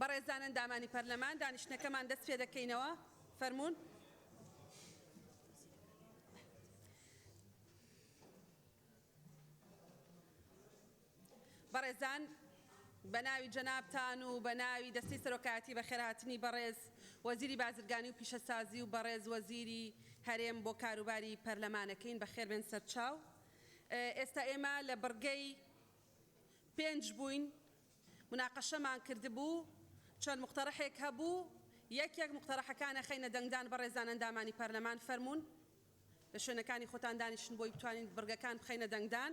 بەڕێزان ئەندامانی پەرلەمان دانیشتنەکەمان دەست پێ دەکەینەوە فەرموون. بەڕێزان بەناوی جەنابتان و بەناوی دەستەی سەرۆکایەتی بەخێرهاتنی بەڕێز وەزیری بازرگانی و پیشەسازی و بەڕێز وەزیری هەرێم بۆ کاروباری پەرلەمانەکەین بەخێربێن سەرچاو ئێستا ئێمە لە بڕگەی پێنج بووین مناقەشەمان کردبوو چەند موقتەڕەحێک هەبوو یەکێک موقتەڕەحەکان ئەخەینە دەنگدان بەڕێزان ئەندامانی پەرلەمان فەرموون. لە شوێنەکانی خۆتان دانیشن بۆی بتوانین بڕگەکان بخەینە دەنگدان.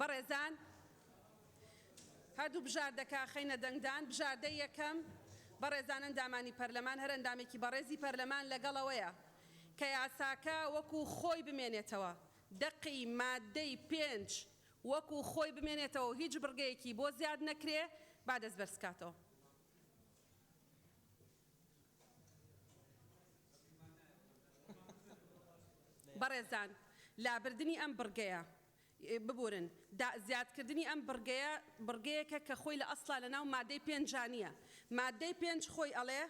بەڕێزان هەردوو بژاردەکە خەینە دەنگدان، بژاردەی یەکەم بەڕێزان ئەندامانی پەرلەمان، هەر ئەندامێکی بەڕێزی پەرلەمان لەگەڵ ئەوەیە کە یاساکە وەکو خۆی بمێنێتەوە، دەقی ماددەی پێنج وەکو خۆی بمێنێتەوە و هیچ بڕگەیەکی بۆ زیاد نەکرێ، با دەستبەرزکاتەوە. بەڕێزان لابردنی ئەم بڕگەیە، ببورن، زیادکردنی ئەم بڕگەیە، بڕگەیەکە کە خۆی لە ئەسڵا لەناو مادەی پێنجا نییە. مادەی پێنج خۆی ئەڵێ،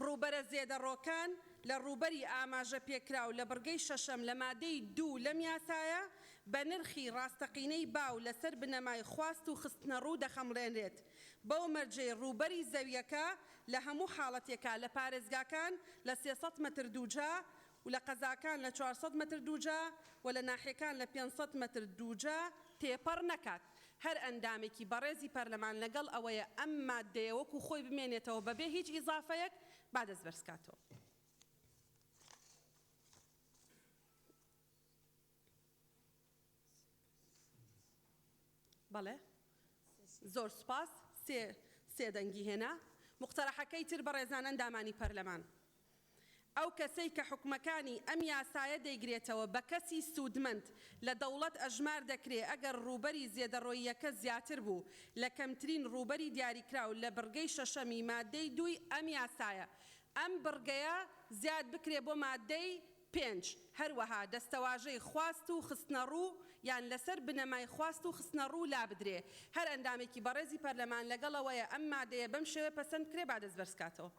ڕووبەرە زێدەڕۆکان لە ڕووبەری ئاماژەپێکراو لە بڕگەی شەشەم لە مادەی دوو لەم یاسایە بە نرخی ڕاستەقینەی باو لەسەر بنەمای خواست و خستنەڕوو دەخەمڵێنرێت. بەو مەرجەی ڕووبەری زەوییەکە لە هەموو حاڵەتێکا لە پارێزگاکان لە سێ سەد مەتر دووجا و لە قەزاکان لە چوار سەد مەتر دووجا و لە ناحیەکان لە پێنج سەد مەتر دووجا تێپەڕ نەکات. هەر ئەندامێکی بەڕێزی پەرلەمان لەگەڵ ئەوەی ئەم ماددەیە وەکو خۆی بمێنێتەوە بەبێ هیچ ئیزافەیەک با دەست بەرزکاتەوە. بەڵێ زۆر سوپاس سێ سێ دەنگی هێنا موقتەرەحەکەی تر بەڕێزان ئەندامانی پەرلەمان ئەو کەسەی کە حوکمەکانی ئەم یاسایە دەیگرێتەوە بە کەسی سوودمەند لە دەوڵەت ئەژمار دەکرێ ئەگەر ڕووبەری زێدەڕۆییەکە زیاتر بوو لە کەمترین ڕووبەری دیاریکراو لە بڕگەی شەشەمی ماددەی دووی ئەم یاسایە ئەم بڕگەیە زیاد بکرێ بۆ ماددەی پێنج، هەروەها دەستەواژەی خواست و خستنەڕوو یان لەسەر بنەمای خواست و خستنەڕوو لابدرێ. هەر ئەندامێکی بەڕێزی پەرلەمان لەگەڵ ئەوەیە ئەم مادەیە بەم شێوەیە پەسەند بکرێ با دەست بەرز کاتەوە.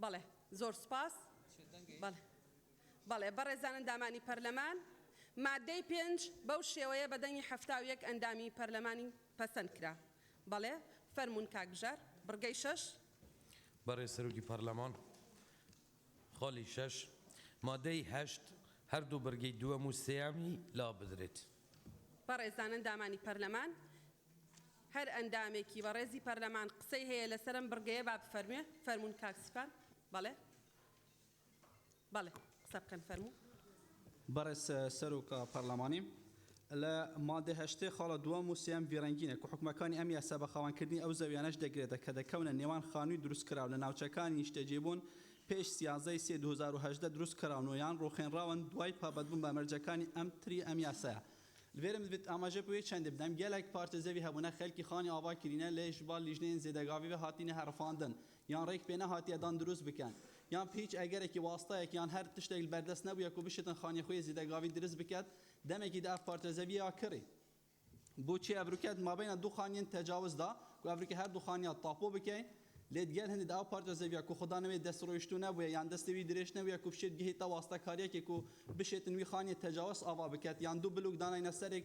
بەڵێ زۆر سپاس بەڵێ بەڕێزان ئەندامانی پەرلەمان مادەی پێنج بەو شێوەیە بە دەنگی حەفتا و یەک ئەندامی پەرلەمانی پەسەند کرا بەڵێ فەرمونون کاکبژار بڕگەی شەش بەڕێ سەرۆکی پەرلەمان خاڵی شەش، مادەی هەشت هەردوو بڕگەی دووەم و سێیەمی لابدرێت. بەڕێزان ئەندامانی پەرلەمان، هەر ئەندامێکی بەڕێزی پەرلەمان قسەی هەیە لەسەر ئەم بڕگەیە با بفەرموێ، فەرموون کاک سیپان. بەڵێ بەڵێ قسە بکەن فەرموو. بەڕێز سەرۆک پەرلەمانی، لە ماددەی هەشتەی خاڵە دووەم و سێیەم ڤیرەنگینە کە حوکمەکانی ئەم یاسا بە خاوەنکردنی ئەو زەویانەش دەگرێتە کە دەکەونە نێوان خانووی دروستکراو لە ناوچەکانی نیشتەجێبوون پێش سیازدە ی سێ دوو هەزار و هەژدە دروستکراون و یان ڕووخێنراون دوای پابەدبوون بە مەرجەکانی ئەم تری ئەم یاسایە. یان ڕێک پێ نەهاتیە دان دروست بکەن یان بهیچ ئەگەرەکی واستەیەک یان هەر تشتێک بەردەست نەبویە کو بشتن خانیە خویە زیدەگاوی دروست بکەت دەمێکی دە ئەڤ پارچە زەوییە کڕی بو چێ ئەڤروکەت مابەینە دو خانیەن تەجاوز دا کو ئەڤروکە هەر دو خانیە تاپۆ بکەین لێت گەل هندی دە ئەو پارچە زەوییە کو خودا نەوێ دەست ڕویشتو نەبویە یان دەست وی درێژ نەبویە کو بشێت گهیتە واستەکاریەکێ کو بشێتن وی خانیە تەجاوز ئاڤا بکەت یان دو بلوک داناینە سەرێک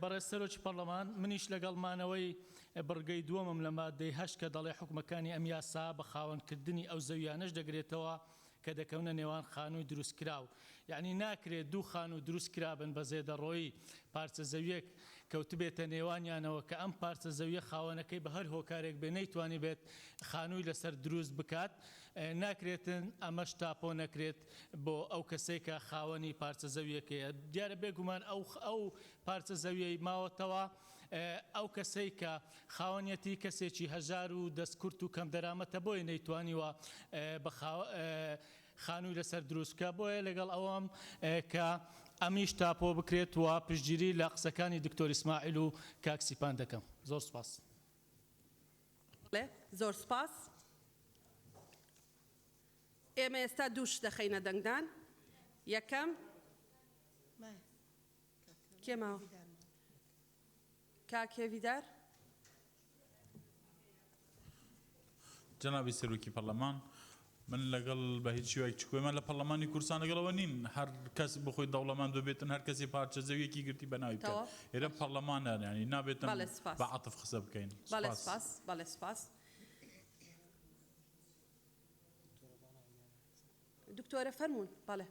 بەڕێز سەرۆکی پەرلەمان، منیش لەگەڵ مانەوەی بڕگەی دووەمم لە ماددەی هەشت کە دەڵێ حوکمەکانی ئەم یاسا بە خاوەنکردنی ئەو زەوییانەش دەگرێتەوە کە دەکەونە نێوان خانووی دروستکراو، یانی ناکرێت دوو خانوو دروستکرابن بە زێدەڕۆیی پارچە زەوییەک کەوتبێتە نێوانیانەوە کە ئەم پارچە زەوییە خاوەنەکەی بە هەر هۆکارێک بێت نەیتوانیبێت خانووی لەسەر دروست بکات ناکرێت ئەمەش تاپۆ نەکرێت بۆ ئەو کەسەی کە خاوەنی پارچە زەوییەکەیە دیارە بێگومان ئەو پارچە زەوییەی ماوەتەوە ئەو کەسەی کە خاوەنیەتی کەسێکی هەژار و دەست کورت و کەم دەرامەتە بۆیە نەیتوانیوە بە خانووی لەسەر دروست بکە بۆیە لەگەڵ ئەوەم کە ئەمیش تاپۆ بکرێت و پشتگیری لە قسەکانی دکتۆر ئیسماعیل و کاک سیپان دەکەم زۆر سوپاس. زۆر سوپاس. ئێمە ئێستا دوو شت دەخەینە دەنگدان یەکەم، کێ ماوە کاک هێڤیدار. جەنابی سەرۆکی پەرلەمان من لەگەڵ بە هیچ شێوەیەک چ کۆیمان لە پەرلەمانی کوردستان لەگەڵ ئەوە نین هەر کەس بۆ خۆی دەوڵەمەند ببێتن هەر کەسێ پارچە زەویەکی گرتی بە ناوی بکات تەواو ئێرە باشە پەرلەمان هەن یانی نابێت بەڵێ سوپاس بە عەتف قسە بکەین بەڵێ سوپاس. سوپاس بەڵێ سوپاس دکتۆرە فەرموون بەڵێ.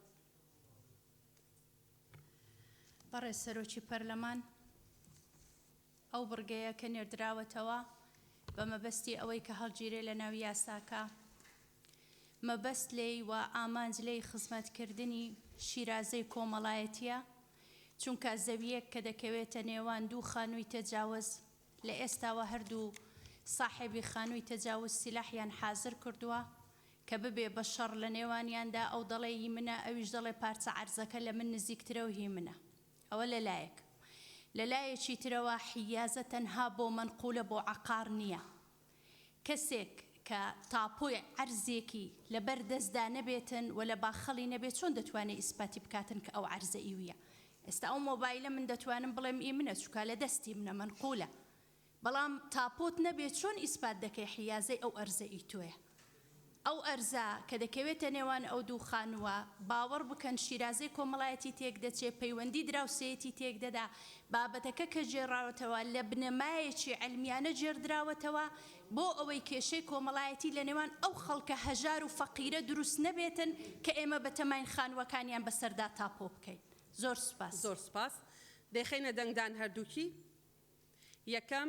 بەڕێز سەرۆکی پەرلەمان، ئەو بڕگەیە کە نێردراوەتەوە بە مەبەستی ئەوەی کە هەڵگیرێ لە ناو یاساکە، مەبەست لێی و ئامانج لێی خزمەتکردنی شیرازەی کۆمەڵایەتییە، چونکە زەوییەک کە دەکەوێتە نێوان دوو خانووی تەجاوز، لە ئێستاوە هەردوو ساحێبی خانووی تەجاوز سیلاحیان حازر کردووە کە ببێ بە شەڕ لە نێوانیاندا، ئەو دەڵێ ی منە، ئەویش دەڵێ پارچە عەرزەکە لە من نزیکترە و هی منە. ئەوە لە لایەک. لە لایەکی ترەوە حیازە تەنها بۆ مەنقولە بۆ عەقار نییە. کەسێک کە تاپۆی عەرزێکی لە بەر دەستدا نەبێتن و لە باخەڵی نەبێت چۆن دەتوانێت ئیسپاتی بکاتن کە ئەو عەرزە ئیویە؟ ئێستا ئەو مۆبایلە من دەتوانم بڵێم ئی منە چوکا لە دەستی منە مەنقولە بەڵام تاپۆت نەبێت چۆن ئیسپات دەکەی حیازەی ئەو ئەرزە ئی تۆیە؟ ئەو ئەرزە کە دەکەوێتە نێوان ئەو دوو خانووە، باوەڕ بکەن شیرازەی کۆمەڵایەتی تێکدەچێ، پەیوەندی دراوسێیەتی تێکدەدا، بابەتەکە کە گێڕاوەتەوە لە بنەمایەکی عیلمیانە گێڕدراوەتەوە بۆ ئەوەی کێشەی کۆمەڵایەتی لە نێوان ئەو خەڵکە هەژار و فەقیرە دروست نەبێتن کە ئێمە بەتەماین خانووەکانیان بەسەردا تاپۆ بکەین. زۆر سوپاس. زۆر سوپاس. دەیخەینە دەنگدان هەردووکی. یەکەم.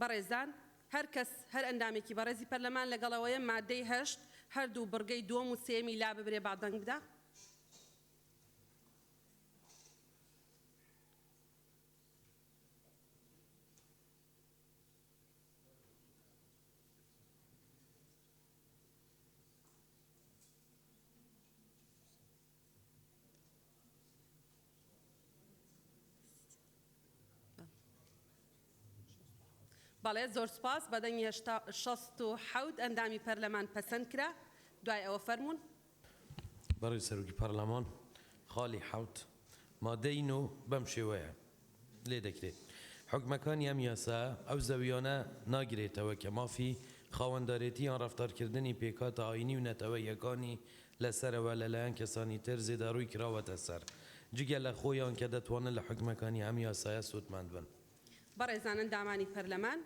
بەڕێزان، هەر کەس، هەر ئەندامێکی بەڕێزی پەرلەمان لەگەڵ ئەوەیە ماددەی هەشت هەردوو بڕگەی دووەم و سێیەمی لاببرێ با دەنگ بدا. بەڵێ زۆر سوپاس بە دەنگی هەشتا شەست و حەوت ئەندامی پەرلەمان پەسەند کرا دوای ئەوە فەرموون. بەڕێز سەرۆکی پەڕلەمان خاڵی حەوت مادەی نۆ بەم شێوەیە. لێ دەکرێت. حوکمەکانی ئەم یاسا ئەو زەویانە ناگرێتەوە کە مافی خاوەندارێتی یان ڕەفتارکردنی پێکهاتە ئایینی و نەتەوەییەکانی لە سەرەوە لە لایەن کەسانی تر زێداڕووی کراوەتە سەر، جگە لە خۆیان کە دەتوانن لە حوکمەکانی ئەم یاسایە سوودمەند بن. بەڕێزان ئەندامانی پەرلەمان،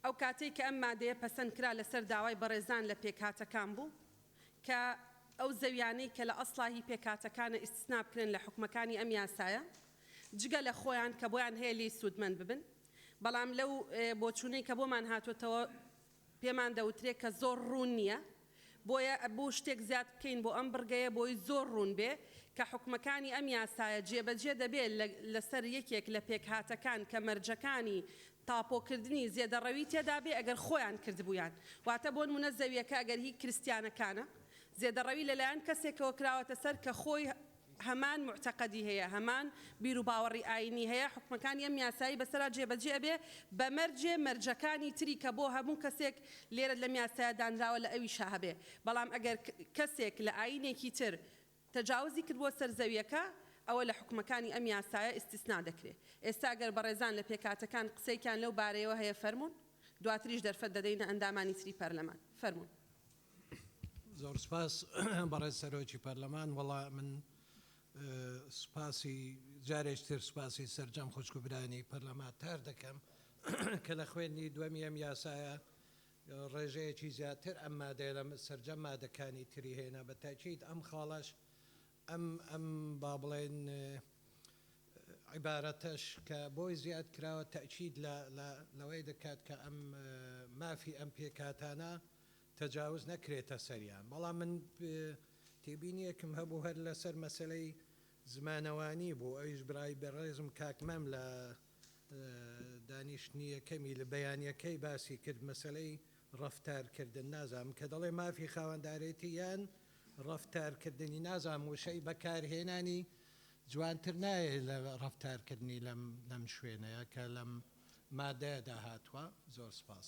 ئەو کاتەی کە ئەم مادەیە پەسەند کرا لەسەر داوای بەڕێزان لە پێکهاتەکان بوو کە ئەو زەویانەی کە لە ئەسڵا هی پێکهاتەکانە ئیستسنا بکرێن لە حوکمەکانی ئەم یاسایە جگە لە خۆیان کە بۆیان هەیە لێی سوودمەند ببن بەڵام لەو بۆچوونەی کە بۆمان هاتۆتەوە پێمان دەوترێ کە زۆر ڕوون نییە. بۆیە ئەبوو شتێک زیاد بکەین بۆ ئەم بڕگەیە بۆی زۆر ڕوون بێ کە حوکمەکانی ئەم یاسایە جێبەجێ دەبێ لە لەسەر یەکێک لە پێکهاتەکان کە مەرجەکانی تاپۆکردنی زێدەڕەوی تێدا بێ ئەگەر خۆیان کردبوویان واتە بۆنمونە زەویەکە ئەگەر هی کریستیانەکانە زێدەڕەوی لەلایەن کەسێکەوە کراوەتە سەر کە خۆی هەمان موعتەقەدی هەیە هەمان بیروباوەڕی ئاینی هەیە حوکمەکانی ئەم یاسایەی بەسەرا جێبەجێ ئەبێ بە مەرجێ مەرجەکانی تری کە بۆ هەموو کەسێک لێرە لەم یاسایە دانراوە لە ئەویشا هەبێ بەڵام ئەگەر کەسێک لە ئاینێکی تر تەجاوزی کرد بۆ سەر زەویەکە ئەوە لە حوکمەکانی ئەم یاسایە ئیستیسنا دەکرێ ئێستا گەر بەڕێزان لە پێکهاتەکان قسەیکیان لەو بارەیەوە هەیە فەرموون دواتریش دەرفەت دەدەینە ئەندامانی تری پەرلەمان فەرموون. زۆر سپاس بەڕێز سەرۆکی پەرلەمان وەڵا من سپاسی جارێک تر سپاسی سەرجەم خوشک و برانی پەرلەمانتار دەکەم کە لە خوێندنی دووەمی ئەم یاسایە ڕێژەیەکی زیاتر ئەم مادەیە لە سەرجەم مادەکانی تری هێنا بە تاکیت ئەم خاڵەش ئەم ئەم با بڵێن عیبارەتەش کە بۆی زیاد کراوە تاکیت لەوەی دەکات کە ئەم مافی ئەم پێکاتانە تەجاوز نەکرێتە سەریان بەڵام من تێبینیەکم هەبوو هەر لەسەر مەسەلەی زمانەوانی بوو ئەویش برای بەڕێزم کاک مام لە دانیشتنی یەکەمی لە بەیانەکەی باسی کرد مەسەلەی ڕەفتار کردن نازانم کە دەڵێ مافی خاوەندارێتی یان ڕەفتار کردنی نازانم وشەی بەکار هێنانی جوانتر نایێ لە ڕەفتار کردنی لەم لەم شوێنەیە کە لەم مادەیەدا هاتووە زۆر سپاس.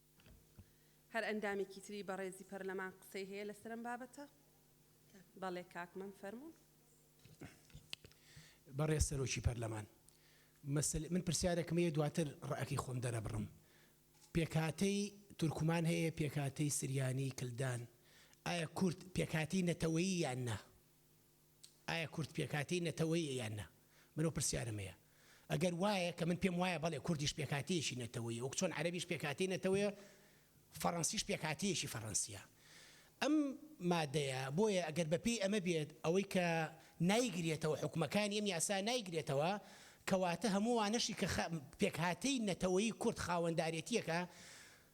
هەر ئەندامێکی تری بەڕێزی پەرلەمان قسەی هەیە لەسەر ئەم بابەتە؟ بەڵێ کاک مەم فەرموون. بەڕێز سەرۆکی پەرلەمان مەسەلە من پرسیارێکم هەیە دواتر ڕەئەکەی خۆم دەرەبڕم. پێکهاتەی تورکمان هەیە پێکهاتەی سریانی، کلدان، ئایا کورد پێکهاتەی نەتەوەیی یان نا؟ ئایا کورد پێکهاتەی نەتەوەیە یان نا؟ من ئەو پرسیارەم هەیە. ئەگەر وایە، کە من پێم وایە بەڵێ کوردیش پێکهاتەیەکی نەتەوەیە، وەکو چۆن عەرەبیش پێکهاتەی نەتەوەیە، فەڕەنسیش پێکهاتەیەکی فەڕەنسییە. ئەم مادەیە، بۆیە ئەگەر بە پێی ئەمە بێت، ئەوەی کە نایگرێتەوە، حوکمەکانی ئەم یاسا نایگرێتەوە، کەواتە هەموو ئەوانەشی کە خە پێکهاتەی نەتەوەیی کورد خاوەندارێتییەکە،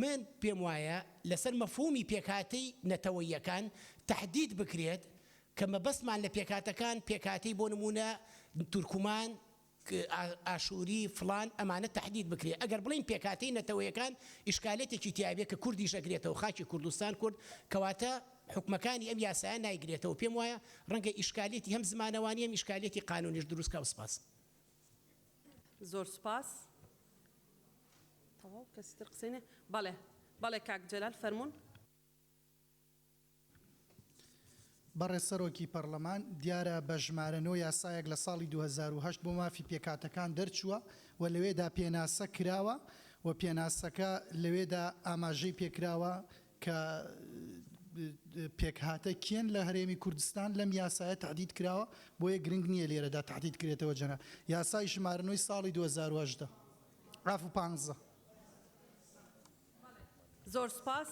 من پێم وایە لەسەر مەفهوومی پێکهاتەی نەتەوەییەکان تەحدید بکرێت کە مەبەستمان لە پێکهاتەکان پێکهاتەی بۆ نموونە تورکمان، ئاشووری، فڵان ئەمانە تەحدید بکرێت. ئەگەر بڵێین پێکهاتەی نەتەوەیەکان ئیشکالێتێکی تیا بێت کە کوردیش ئەگرێتەوە خاکی کوردستان کورد کەواتە حوکمەکانی ئەم یاسایە نایگرێتەوە پێم وایە ڕەنگە ئیشکالێتی هەم زمانەوانی هەم ئیشکالێتی قانوونیش دروست کا و سپاس. زۆر سوپاس. تەواو کەسی تر قسەی نە بەڵێ بەڵێ کاک جەلال فەرموون. بەڕێز سەرۆکی پەڕڵەمان، دیارە بە ژمارە نۆ یاسایەک لە ساڵی دوو هەزار و هەشت بۆ مافی پێکهاتەکان دەرچووە و لەوێدا پێناسە کراوە و پێناسەکە لەوێدا ئاماژەی پێکراوە کە پێکهاتە کێن لە هەرێمی کوردستان لەم یاسایە تەحدید کراوە بۆیە گرنگ نییە لێرەدا تەحدید کرێتەوە جەناب یاسای ژمارە نۆی ساڵی دوو هەزار و هەژدە عفو پانزە. زۆر سوپاس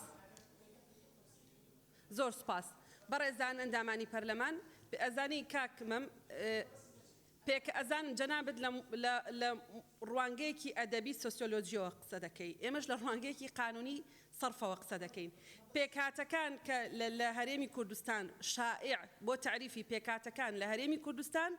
زۆر سوپاس بەڕێزان ئەندامانی پەرلەمان ئەزانی کاک مەم پێکئەزان جەنابت لە لە ڕوانگەیەکی ئەدەبی سۆسیۆلۆجیەوە قسە دەکەی ئێمەش لە ڕوانگەیەکی قانونی سەرفەوە قسە دەکەین پێکهاتەکان کە لە لە هەرێمی کوردستان شائع بۆ تەعریفی پێکهاتەکان لە هەرێمی کوردستان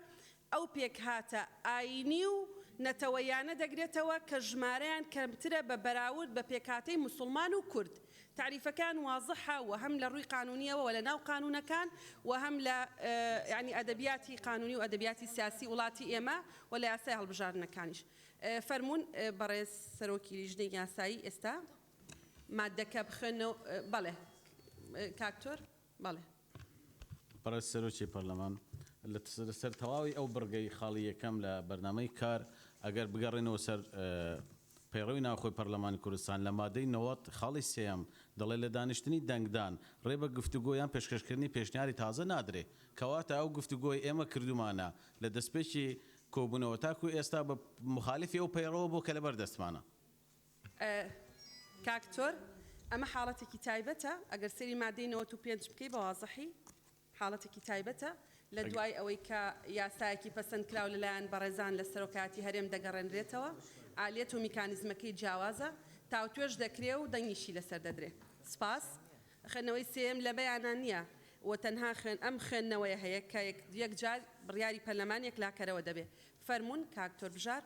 ئەو پێکهاتە ئایینی و نەتەوەییانە دەگرێتەوە کە ژمارەیان کەمترە بە بەراورد بە پێکهاتەی موسوڵمان و کورد تەعریفەکان وازحە و هەم لە ڕووی قانوونییەوە و لە ناو قانوونەکان و هەم لە یانی ئەدەبیاتی قانوونی و ئەدەبیاتی سیاسی وڵاتی ئێمە و لە یاسای هەڵبژاردنەکانیش. فەرموون بەڕێز سەرۆکی لیژنەی یاسایی ئێستا ماددەکە بخوێننەوە. بەڵێ کاک تۆر. بەڵێ. بەڕێز سەرۆکی پەرلەمان، لەسەر تەواوی ئەو بڕگەی خاڵی یەکەم لە بەرنامەی کار، ئەگەر بگەڕێنەوە سەر پەیڕەوی ناوخۆی پەرلەمانی کوردستان لە مادەی نەوەد خاڵی سێیەم دەڵێت لە دانیشتنی دەنگدان ڕێ بە گفتوگۆ یان پێشکەشکردنی پێشنیاری تازە نادرێت، کەواتە ئەو گفتوگۆی ئێمە کردوومانە لە دەستپێکی کۆبوونەوە تاکوو ئێستا بە موخالیفی ئەو پەیڕەوە بووە کە لەبەر دەستمانە. کاک تۆر ئەمە حاڵەتێکی تایبەتە ئەگەر سەیری مادەی نەوەت و پێنج بکەی بە وازحی حاڵەتێکی تایبەتە لە دوای ئەوەی کە یاسایەکی پەسەند کراو لە لایەن بەڕێزان لە سەرۆکایەتی هەرێم دەگەڕێنرێتەوە ئالیەت و میکانیزمەکەی جیاوازە تاوتوێش دەکرێ و دەنگیشی لەسەر دەدرێ سپاس. خوێندنەوەی سێیەم لە بەیانە نییە و تەنها خوێن ئەم خوێندنەوەیە هەیە کە یەک یەکجار بڕیاری پەرلەمان یەکلاکەرەوە دەبێ فەرموون کاک تۆر بژار.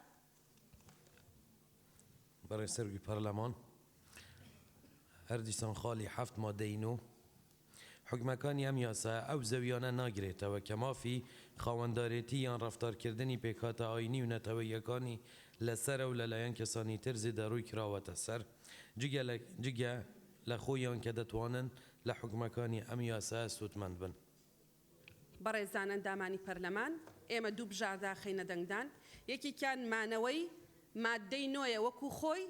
بەڕێز سەرۆکی پەرلەمان، هەر دیسان خاڵی حەفت مادەی نۆ حوکمەکانی ئەم یاسایە ئەو زەوییانە ناگرێتەوە کە مافی خاوەندارێتی یان ڕەفتارکردنی پێکهاتە ئایینی و نەتەوەییەکانی لەسەرە و لەلایەن کەسانی تر زێدەڕۆی کراوەتە سەر جگە لە جگە لە خۆیان کە دەتوانن لە حوکمەکانی ئەم یاسایە سوودمەند بن. بەڕێزان ئەندامانی پەرلەمان، ئێمە دوو بژاردە خەینە دەنگدان، یەکێکیان مانەوەی ماددەی نۆیە وەکو خۆی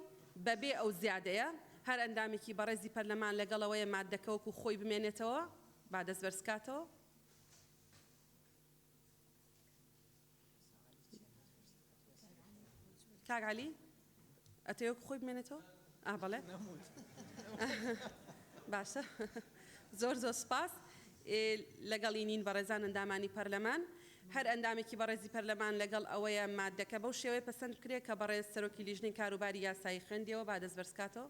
بەبێ ئەو زیادەیە، هەر ئەندامێکی بەڕێزی پەرلەمان لەگەڵ ئەوەیە ماددەکە وەکو خۆی بمێنێتەوە، با دەستبەرزکاتەوە. کاک عەلی ئەتەوێت خۆی بمێنێتەوە ئا بەڵێ باشە زۆر زۆر سپاس لەگەڵی نین بەڕێزان ئەندامانی پەرلەمان هەر ئەندامێکی بەڕێزی پەرلەمان لەگەڵ ئەوەیە مادەکە بەو شێوەیە پەسەند کرێت کە بەڕێز سەرۆکی لیژنەی کاروباری یاسایی خوێندیەوە با دەست بەرزکاتەوە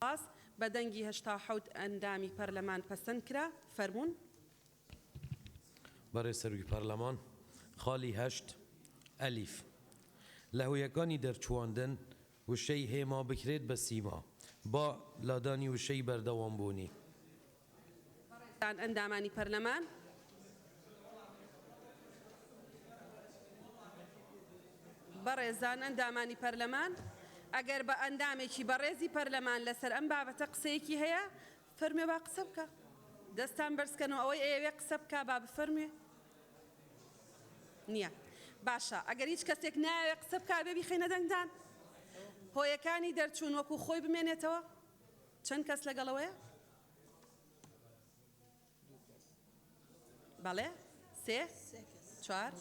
سپاس. بە دەنگی هەشتا و حەوت ئەندامی پەرلەمان پەسەند کرا. فەرموون. بەڕێز سەرۆکی پەرلەمان، خاڵی هەشت ئەلیف، لە هۆیەکانی دەرچوواندن وشەی هێما بکرێت بە سیما با لادانی وشەی بەردەوامبوونی. بەڕێزان ئەندامانی پەرلەمان. بەڕێزان ئەندامانی پەرلەمان ئەگەر بە ئەندامێکی بەڕێزی پەرلەمان لەسەر ئەم بابەتە قسەیەکی هەیە فەرمێ با قسە بکە دەستان بەرزکەنەوە ئەوەی ئەیەوێ قسە بکە با بفەرموێ نییە باشە ئەگەر هیچ کەسێک ناوێ قسە بک بێ بیخینە دەنگدان هۆیەکانی دەرچوون وەکو خۆی بمێنێتەوە چەند کەس لەگەڵەوەیە بەڵێ سێ چوار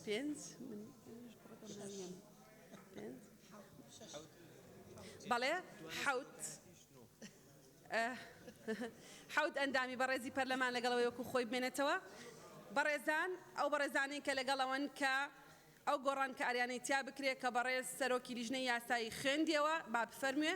پێنج بەڵێ حوت حوت ئەندامی بەڕێزی پەرلەمان لەگەڵەوەی وەکو خۆی بمێنێتەوە بەڕێزان ئەو بەڕێزانین کە لەگەڵەوەن کە ئەو گۆڕانکاریانەی تیا بکرێت کە بەڕێز سەرۆکی لیژنەی یاسایی خوێندیەوە با بفەرموێ.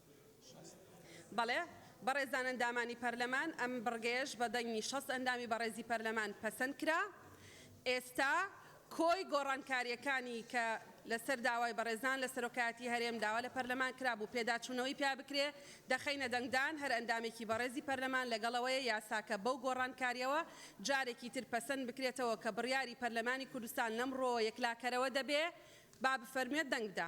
بەڵێ، بەڕێزان ئەندامانی پەرلەمان، ئەم بڕگەیەش بە دەنگی شەست ئەندامی بەڕێزی پەرلەمان پەسەند کرا. ئێستا کۆی گۆڕانکارییەکانی کە لەسەر داوای بەڕێزان لە سەرۆکایەتیی هەرێم داوا لە پەرلەمان کرابوو پێداچوونەوەی پیا بکرێ، دەخەینە دەنگدان، هەر ئەندامێکی بەڕێزی پەرلەمان لەگەڵەوەیە یاساکە بەو گۆڕانکارییەوە جارێکی تر پەسەند بکرێتەوە کە بڕیاری پەرلەمانی کوردستان لەمڕۆوە یەکلاکەرەوە دەبێ، با بفەرموێت دەنگ بدا.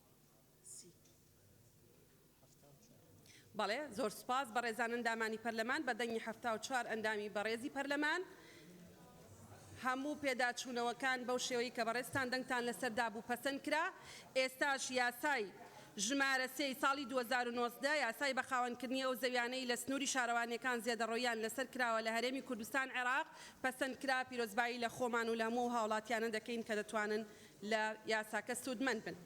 بەڵێ زۆر سوپاس بەڕێزان ئەندامانی پەرلەمان بە دەنگی حەفتا و چوار ئەندامی بەڕێزی پەرلەمان هەموو پێداچوونەوەکان بەو شێوەی کە بەڕێزتان دەنگتان لەسەر دابوو پەسەند کرا ئێستاش یاسای ژمارە سێی ساڵی 2019 یاسای بەخاوەنکردنی ئەو زەویانەی لە سنووری شارەوانیەکان زێدەڕۆییان لەسەر کراوە لە هەرێمی کوردستان عێراق پەسەند کرا پیرۆزبایی لە خۆمان و لە هەموو ئەو هاوڵاتیانە دەکەین کە دەتوانن لە یاساکە سوودمەند بن.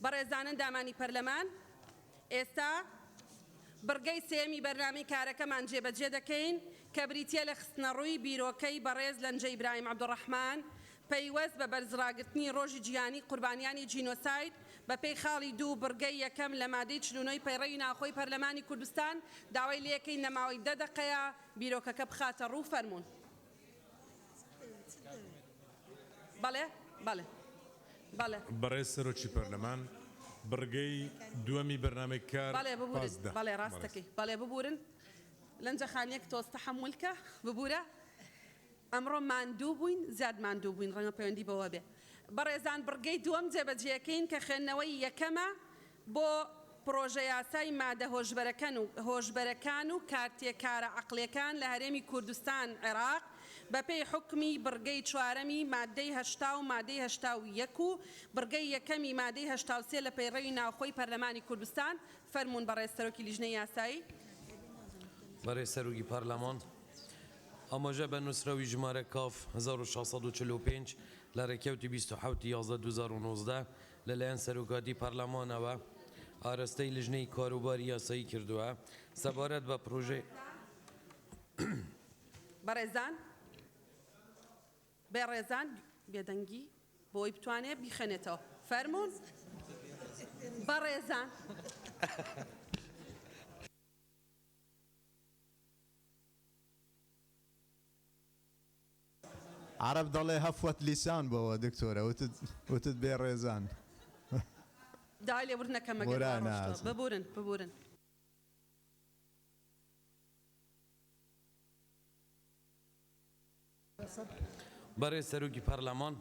بەڕێزان ئەندامانی پەرلەمان، ئێستا بڕگەی سێیەمی بەرنامەی کارەکەمان جێبەجێ دەکەین کە بریتییە لە خستنەڕووی بیرۆکەی بەڕێز لەنجە ئیبراهیم عەبدولڕەحمان پەیوەست بە بەرزڕاگرتنی ڕۆژی جیهانیی قوربانیانی جینۆساید بەپێی خاڵی دوو بڕگەی یەکەم لە مادەی چل و نۆی پەیڕەوی ناوخۆی پەرلەمانی کوردستان داوای لێکەین لە ماوەی دە دەقەیە بیرۆکەکە بخاتەڕوو فەرموون. بەڕێز سەرۆکی پەرلەمان، بڕگەی دووەمی بەرنامەی کار پاس دە. بۆ پڕۆژەیاسای مادە هۆشبەرەکەن و هۆشبەرەکان و کارتێکارە عەقڵیەکان لە هەرێمی کوردستان عێراق بە پێی حوکمی بڕگەی چوارەمی ماددەی هەشتا و مادەی هەشتا و یەک و بڕگەی یەکەمی مادەی هەشتا و سێ لە پەیڕەوی ناوخۆی پەرلەمانی کوردستان فەرموون بەڕێز سەرۆکی لیژنەی یاسایی. بەڕێز سەرۆکی پەرلەمان ئاماژە بە نووسراوی ژمارە کاف هەزار و شەش سەد و چل و پێنج لە ڕێکەوتی بیست و حەوت ی یازدە دوو هەزار و نۆزدە لەلایەن سەرۆکاتی پەرلەمانەوە ئاراستەی لژنەی کاروباری یاسایی کردووە سەبارەت بە پڕۆژەی. بەڕێزان بەڕێزان بێدەنگی بۆی بتوانێت بیخوێنێتەوە فەرموون بەڕێزان. عەرەب دەڵێ هەفوەت لیسان بۆوە دکتۆرە وتت وتت بێ ڕێزان. داوای لێبوردن ئەکەم مەگەر وا ڕۆشتوە ببورن ببورن. بەڕێز سەرۆکی پەرلەمان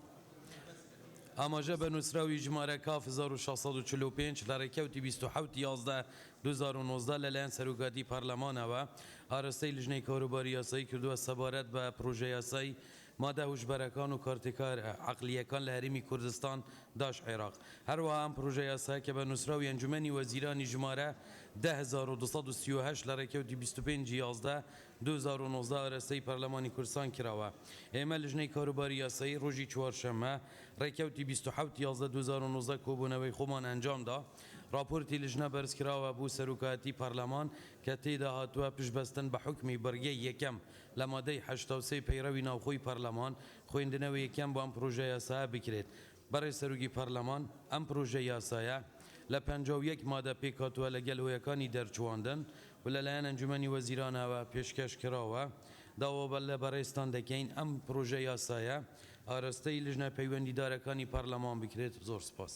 ئاماژە بە نووسراوی ژمارە کاف هەزار و شەش سەد و چل و پێنج لە ڕێکەوتی بیست و حەوت یازدە دوو هەزار و نۆزدە لەلایەن سەرۆکایەتی پارلەمانەوە ئاراستەی لجنەی کاروباری یاسایی کردووە سەبارەت بە پڕۆژەیاسای مادە هوشبەرەکان و کارتێکارە عەقلییەکان لە هەرێمی کوردستان داش عێراق هەروەها ئەم پڕۆژەیاسایە کە بە نووسراوی ئەنجومەنی وەزیرانی ژمارە دە هەزار و دوو سەد و سی و هەشت لە ڕێکەوتی بیست و پێنج یازدە دوو هەزار و نۆزدە ئاراستەی پارلەمانی کوردستان کراوە ئێمە لجنەی کاروباری یاسایی ڕۆژی چوارشەممە ڕێکەوتی بیست و حەوت یازدە دوو هەزار و نۆزدە کۆبوونەوەی خۆمان ئەنجامدا. ڕاپۆرتی لیژنە بەرزکراوە بۆ سەرۆکایەتی پەرلەمان کە تێیدا هاتووە پشتبەستن بە حوکمی بڕگەی یەکەم لە مادەی حەشتا و سێ پەیڕەوی ناوخۆی پەرلەمان خوێندنەوەی یەکەم بۆ ئەم پڕۆژە یاسایە بکرێت بەڕێز سەرۆکی پەرلەمان ئەم پڕۆژە یاسایە لە پەنجا و یەک مادە پێکهاتووە لەگەل هۆیەکانی دەرچوواندن و لەلایەن ئەنجومەنی وەزیرانەوە پێشکەش کراوە داوا لە بەڕێزتان دەکەین ئەم پڕۆژە یاسایە ئاراستەی لیژنە پەیوەندیدارەکانی پەرلەمان بکرێت زۆر سپاس.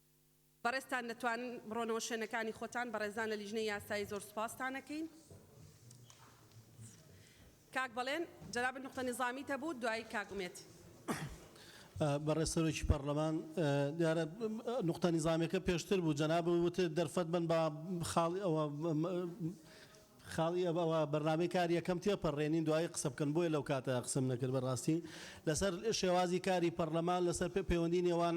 بەڕێزتان دەتوانن بڕۆنەوە شوێنەکانی خۆتان بەڕێزان لە لیژنەی یاسایی زۆر سوپاستان ئەکەین کاک بەڵێن جەنابت نوقتە نیزامیت هەبوو دوایی کاک ئومێد. بەڕێز سەرۆکی پەڕلەمان دیارە نوقتە نیزامیەکە پێشتر بوو جەنابت وتت دەرفەت بەن با خاڵی ئەوە خاڵی ئەوە بەرنامەی کار یەکەم تێپەڕێنین دوایی قسە بکەن بۆیە لەو کاتە قسەم نەکرد بەڕاستی لەسەر شێوازی کاری پەڕلەمان لەسەر پەیوەندی نێوان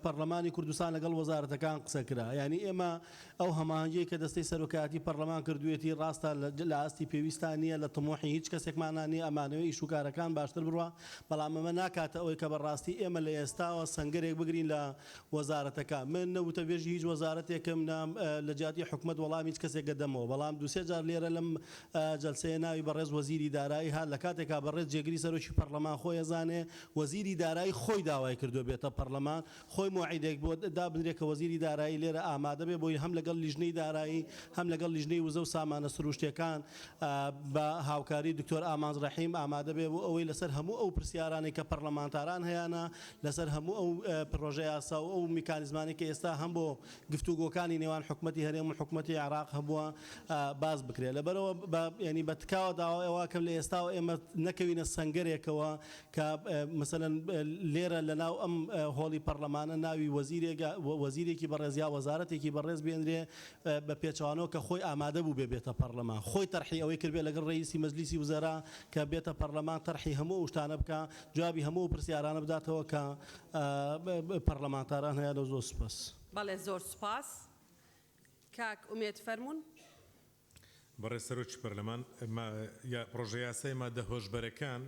پەڕلەمانی کوردستان لەگەڵ وەزارەتەکان قسە کرا یانی ئێمە ئەو هەماهەنگیەی کە دەستەی سەرۆکایەتی پەڕلەمان کردوێتی ڕاستە لە ئاستی پێویستان نیە لە تموحی هیچ کەسێکمانا نیە ئەمانەوێ ئیش و کارەکان باشتر بڕوا بەڵام ئەمە ناکاتە ئەوەی کە بەڕاستی ئێمە لە ئێستاوە سەنگەرێک بگرین لە وەزارەتەکان، من نە وتەبێژی هیچ وەزارەتێکم نە لە جیاتی حکومەت وەڵامی هیچ کەسێک ئەدەمەوە، بەڵام دوو سێ جار لێرە لەم جەلسەیە ناوی بەڕێز وەزیری دارایی هات لە کاتێکا بەڕێز جێگری سەرۆکی پەڕلەمان خۆی ئەزانێ وەزیری دارایی خۆی داوای کردووە بێتە پەڕلەمان خۆی مۆعیدێک بۆ دابنرێ کە وەزیری دارایی لێرە ئامادە بێ بۆی هەم لەگەڵ لیژنەی دارایی هەم لەگەڵ لیژنەی وزە و سامانە سرووشتیەکان بە هاوکاری دکتۆر ئامانج ڕەحیم ئامادە بێ بۆ ئەوەی لەسەر هەموو ئەو پرسیارانەی کە پەڕلەمانتاران هەیانە لەسەر هەموو ئەو پڕۆژە یاسا و ئەو میکانیزمانەی کە ئێستا هەم بۆ گفتوگۆکانی نێوان حکومەتی هەرێم و حکومەتی عێراق هەبووە باس بکرێت. لەبەرئەوە بە یانی بە تکاوە داوای ئەوە ئەکەم لە ئێستاوە ئێمە نەکەوینە سەنگەرێکەوە کە مەسەلەن لێرە لە ناو ئەم هۆڵی پەڕلەمانە ناوی وەزیرێک وەزیرێکی بەڕێز یا وەزارەتێکی بەڕێز بێنرێ بە پێچەوانەوە کە خۆی ئامادە بووبێ بێتە پەڕلەمان خۆی تەرحی ئەوەی کردبێ لەگەڵ ڕەییسی مەجلیسی وزەرا کە بێتە پەڕلەمان تەرحی هەموو ئەو شتانە بکا جوابی هەموو ئەو پرسیارانە بداتەوە کە پەڕلەمانتاران هەیانە زۆر سوپاس. بەڵێ زۆر سوپاس کاک ئومێد فەرموون. بەڕێز سەرۆکی پەرلەمان ما یا پڕۆژە یاسای مادە هۆشبەرەکان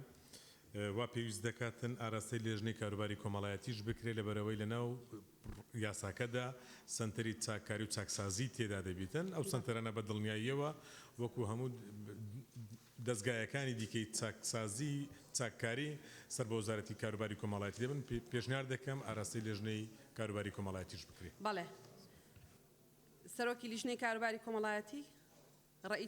وا پێویست دەکاتن ئاراستەی لێژنەی کاروباری کۆمەڵایەتیش بکرێ لەبەرئەوەی لەناو یاساکەدا سەنتەری چاککاری و چاکسازی تێدا دەبیتن ئەو سەنتەرانە بە دڵنیاییەوە وەکو هەموو دەزگایەکانی دیکەی چاکسازی چاککاری سەر بە وەزارەتی کاروباری کۆمەاڵایەتی دەبن، پێشنیار دەکەم ئاراستەی لێژنەی کاروباری کۆمەاڵایەتیش بکرێ. بەڵێ. سەرۆکی لیژنەی کاروباری کۆمەڵایەتی، ڕەئی.